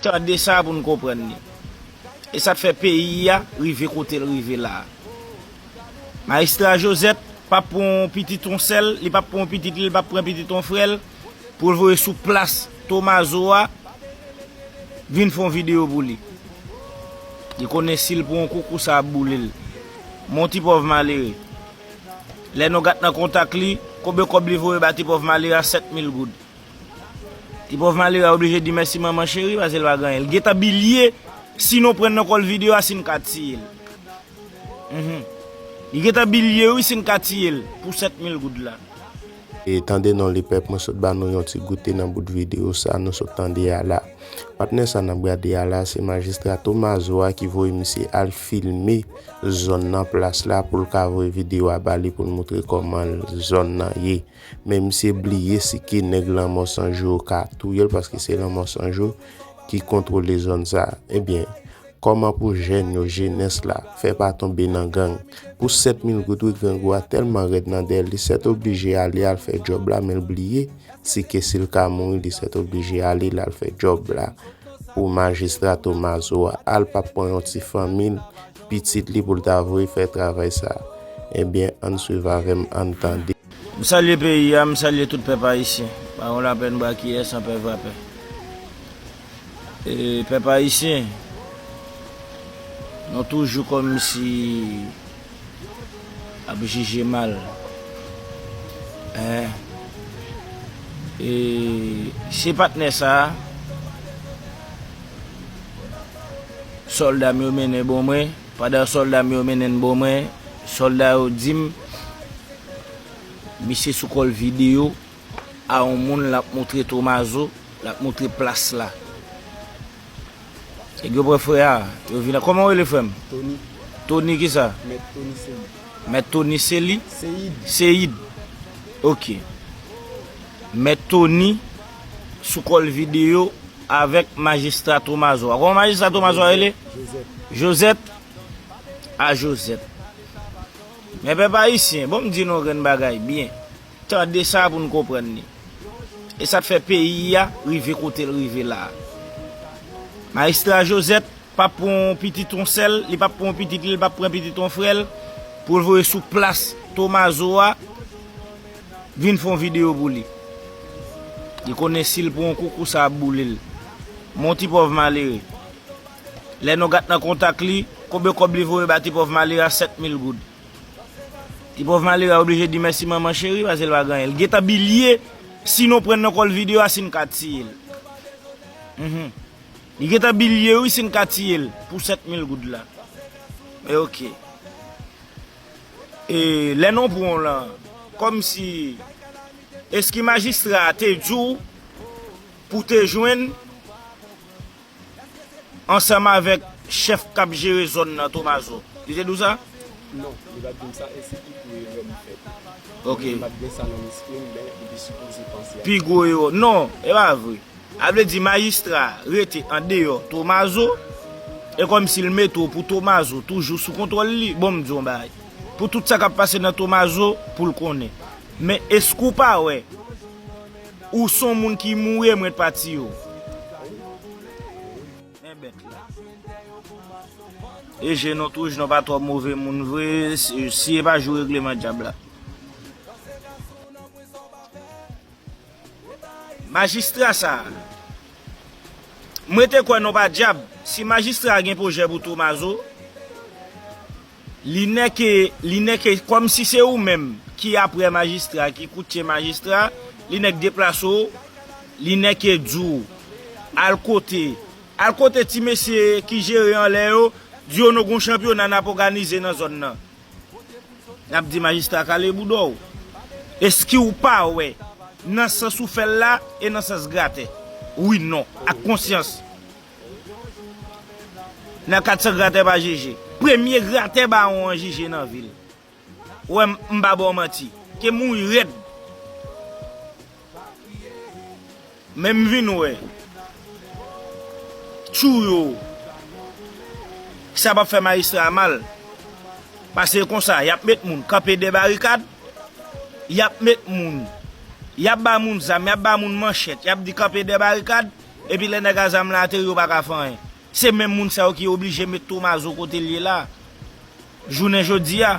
Tande sa pou n konprann li. E sa k fè peyi a rive kote l rive la a. Majistra Josette p ap pran yon pitit yon sè l, li p ap pran yon pitit li, li p ap pran pitit yon frè l pou l voye sou plas Tomazo a vin fè yon videyo pou li. Li konnen si l pran yon kou, kou sa ap boule l. Men yon ti pòv malere. Lè nou gat nan kontak li, konbe kòb li voye ba ti pòv malere a, 7 mil goud. Ti pòv malere a oblije di mèsi manman cheri pase l pa gen anyen l gentan bilye si nou pran nan kòl video a si n ka tiye l humm li gentan bilye wi si n ka tiye l pou 7 mil goud la. Tande non li pèp mwen sot ba nou yon ti goute nan bout video sa nou sot tande a la patnè sa nap gade a la se majistra tomazo a ki voye misye al filme zòn nan plas la poul ka voye video a bali poul moutre kòman zòn nan ye. Men misye bliye si ki nèg lanmò san jou yo ka touyel paske se lanmò san jou ki kontwole zòn sa. Ebyen, kòman pou jèn yo, jenès la, fè pa tonbe nan gang? Pou 7 mil goud wi grangou a tèlman rèd nan dèyèl li sètoblije ale al fè djòb la menl bliye si ke sil ka mouri li sètoblije ale lal fè djòb la pou majistra Tomazo a al pa pran yon ti fanmil Pitit li pou l ta voye fè travay sa a. Ebyen, ann suiv avè m, ann tande. M salye peyi a, m salye tout pèp ayisyen. Pa yon lapè n bwa kiyè san pè vapè. E pèp ayisyen, nou toujou kòmsi ap jije mal. Hein. E se patnè sa a. Sòlda m yo mennen bò mwen, pandan sòlda m yo mennen n bò mwen, sòlda yo di m, Misye sou kò l videyo a yon moun l ap moutre Tomazo, l ap moutre plas la. Nèg yo pran frè a, yo vin a. Kòman w rele frè m? Toni. Toni ki sa? Mèt Toni Seyid. Mèt Toni Seli? Seyid. Seyid. Ok. Mèt Toni. sou kòl video avèk majistra tomazo a kòman majistra tomazo a rele jozèt a jozèt men pèp ayisyen bon m di nou yon grenn bagay byen tande sa pou nou konprann ni e sa k fè peyi a rive kote l rive la majistra jozèt pap pran yon pitit yon sè l li pap pran yon pitit li l pap pran pitit yon frè l pou l voye sou plas tomazo a. Vin fon video pou li. Li konnen sil pran yon koukou sa ap boulel. Mon ti pòv malere. Lè nou gat nan kontak li, konbyen kòb li voye ba ti pòv malere a 7000 goud. Ti pòv malere a oblije di mèsi manman cheri pase l pa gen anyen. L gentan bilye si nou pran nan kòl video a si n ka tiyel. Mph. Li gentan bilye wi si n ka tiyel pou 7000 goud la. Men ok. E lè non pran w lan kòm si eski majistra a te di w pou w te jwenn ansanm avèk chèf k ap jere zòn nan Tomazo? Li te di w sa? Non, li pa t di m sa e se pi gwo erè m fè tou. Mwen menm m pa t gen sa nan lespri m men li te sipoze panse ak sa. Pi gwo erè w. Non, e pa vre. A vle di majistra a rete an deyò Tomazo, e kòmsi l mete w pou Tomazo toujou sou kontwòl li. Bon m di w yon bagay, pou tout sa k ap pase nan Tomazo pou l konnen. Men èske w pa wè ou s on moun ki moure mwen t pa tiye w? Men bèt la. E je non tou, je non pa twò move moun vre, si e pa jou regleman dyab la. Majistra sa. M rete kwè non pa dyab. Si majistra gen pwojè pou Tomazo, li nèke, li nèke kòm si se ou menm ki aprè majistra, ki koutye majistra, li nèk deplase w, li nèke di w al kote, al kote ti mesye ki jere anlè yo, di yo nou gon chanpyona nap òganize nan zòn nan. Yap di majistra kale bouda w. Eskiw pa wè nan sans ou fèl la e nan sans gratè. Wi non ak konsyans. Nan 400 gratè pa jije. Premye gratè bawon an jije nan vil. Wè m pa baw manti. Ke mouri rèd. Men m vin wè tjou yo sa pap fè majistra a mal pase e konsa yap met moun kanpe dè barikad yap met moun yap ba moun zam yap ba moun manchèt yap di kanpe dè barikad epi lè nèg a zam la ateri yo pa ka fè anyen se menm moun sa yo ki oblije met tomazo kote l ye la jounen jodi a.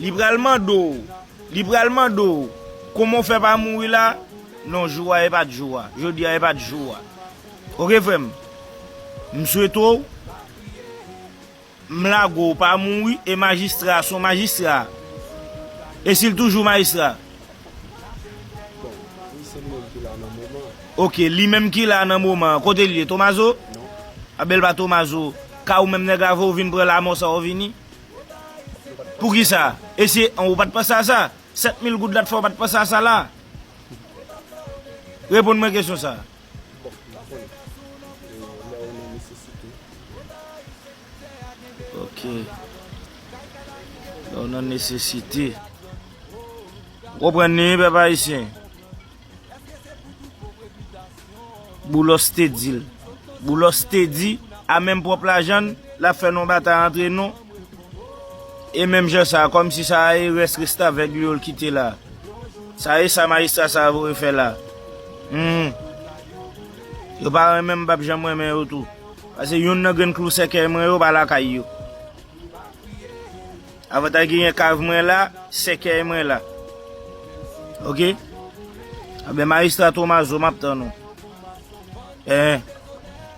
Li pral mande w, li pral mande w, kouman w fè pa mouri la? Non, jou a e pa t jou a. Jodi a e pa t jou a. Ok frè m, m swete w, m lage w pa mouri e majistra a se yon majistra. E si l toujou majistra? Bon, li se li menm ki la nan moman an. Ok, li menm ki la nan moman an. Kote l ye? Tomazo? Non. Anben l pa Tomazo. Ka ou menm nèg la vre ou vin pran lamò sa ou vini? Poukisa? E si an ou pa t panse a sa? Sèt mil goud la t fè w pa t panse a sa la? Reponn mwen kesyon sa a. Bon, m pa konnen. Lè ou nan nesesite. Ok. Lè ou nan nesesite. Ou konprann li wi pèp ayisyen? Boulos te di l. Boulos te di, a menm pwòp lajan n, l ap fè n yon batay antre nou, e menm jan sa a, kòmsi sa a e rès restavèg li yo l kite la a. Sa e sa majistra sa a voye fè la a. Hum! Yo pa renmen m, m p ap janm renmen yo tou. Pase youn nan grenn klou sèkèy mwen yo pa lakay yo. Avantay genyen kav mwen la sèkèy mwen la ok anben maestra tomazo map tann ou eh.